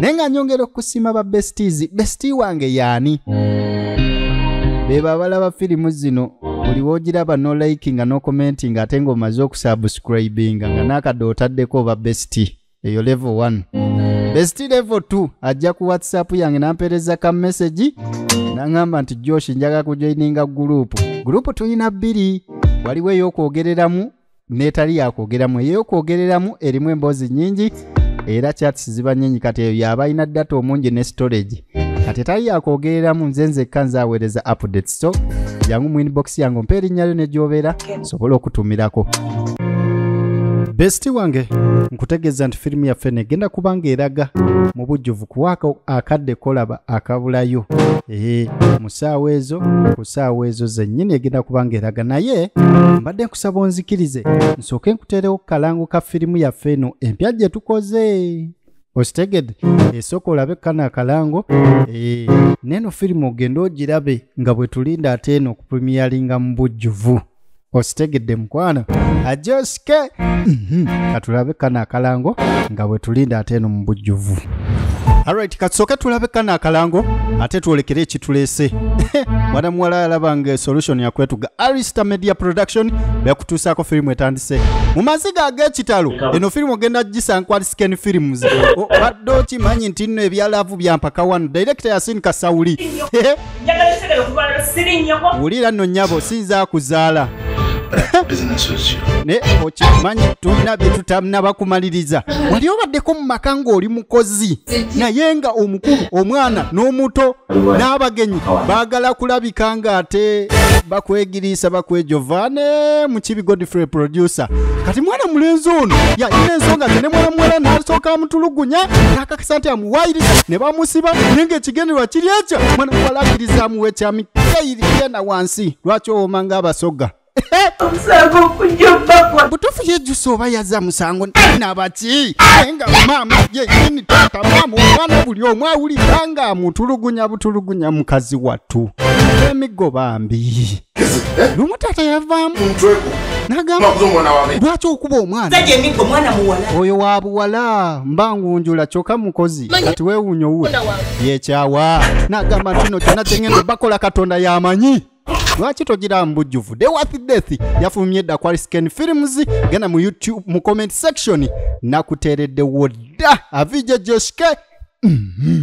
naye nga nyongera okusiima ba besties bestie wange yaani beba abalaba firimu zino buli wogiraba no like nga no commenti nga ate ngaomaze okusubscribinga nga nakadde otaddeko oba bestie eyo level 1 bestie level 2 ajja ku whatsapp yange nampereza ka message nangamba nti josh njaga kujoininga gurupu gurupu tulina bbiri waliwo ey'okwogereramu n'etali yakwogeramu ey'okwogereramu erimu emboozi nnyingi era chats ziba nnyingi kati eyo yaba alina data omungi ne storage kati etali yakwogereramu nze nzekka nze aweereza updates so jangu mu inbox yange ompa erinnya lyo ne gy'obeera sobola okutumirako besiti wange nkutegeeza nti firimu yaffe negenda kubanga eraga mu bujjuvu kuwaako akadde kolaba akabulayo ee mu ssaawa ezo ku ssaawa ezo zennyini egenda kuba ng'eraga naye mbadde nkusaba onzikirize nsooke nkuteerewo ku kalango ka firimu yaffe eno empya gye tukoze okitegedde esooka olabe kano akalango ee neeno firimu ogende ogirabe nga bwe tulinda ate eno okupremiyalinga mu bujjuvu okitegedde mukwano ajosike mhm. katulabe kano akalango nga bwe tulinda ate eno mu bujjuvu alright katusooke tulabe kano akalango ate twolekere ekituleese mwana muwala yalaba nga solution yakwetuga arista media production bekutuusaako firimu etandise mu maziga ag'ekitalo eno firimu ogenda gisankwalisiken films obadde okimanyi nti nno ebyalaavu byampaka wano director yasin kasawuli wulira nno nyabo sinza kuzaala naye okimanyi tulina byetutanaba kumaliriza wali obaddeko mu maka ng'oli mukozi naye nga omukulu omwana n'omuto n'abagenyi baagala kulabika ng'ate bakwegiriisa bakwejova ne mukibi godfrey producer kati mwana mulenzi ono yalina ensonga ze ne mwana muwala n'asooka amutulugunya sente amuwayiriza ne bamusiba naye ng'ekigendererwa kiri ekyo mwana walakiriza amuwa ekyami keyiri genda wansi lwaki owoma ng'abasoga butuufu yejjusa oba yazza musango nabaki naye nga maama yenyini taata maama omwana buli omu awulira nga amutulugunya butulugunya mukazi wattu emiggo bambi lumu taata yavaamu nagamba lwaki okuba omwana oyo wa buwala mba ngunjula kyoka mukozi kati wewunya owuwe yekyawa nagamba ntino kyona kyengendo bakola katonda yamanyi lwaki togira mbujjuvu dewath death yafulumye edda kwa scan films genda mu youtube mu comment section nakuteereddewo dda avije joske mm -hmm.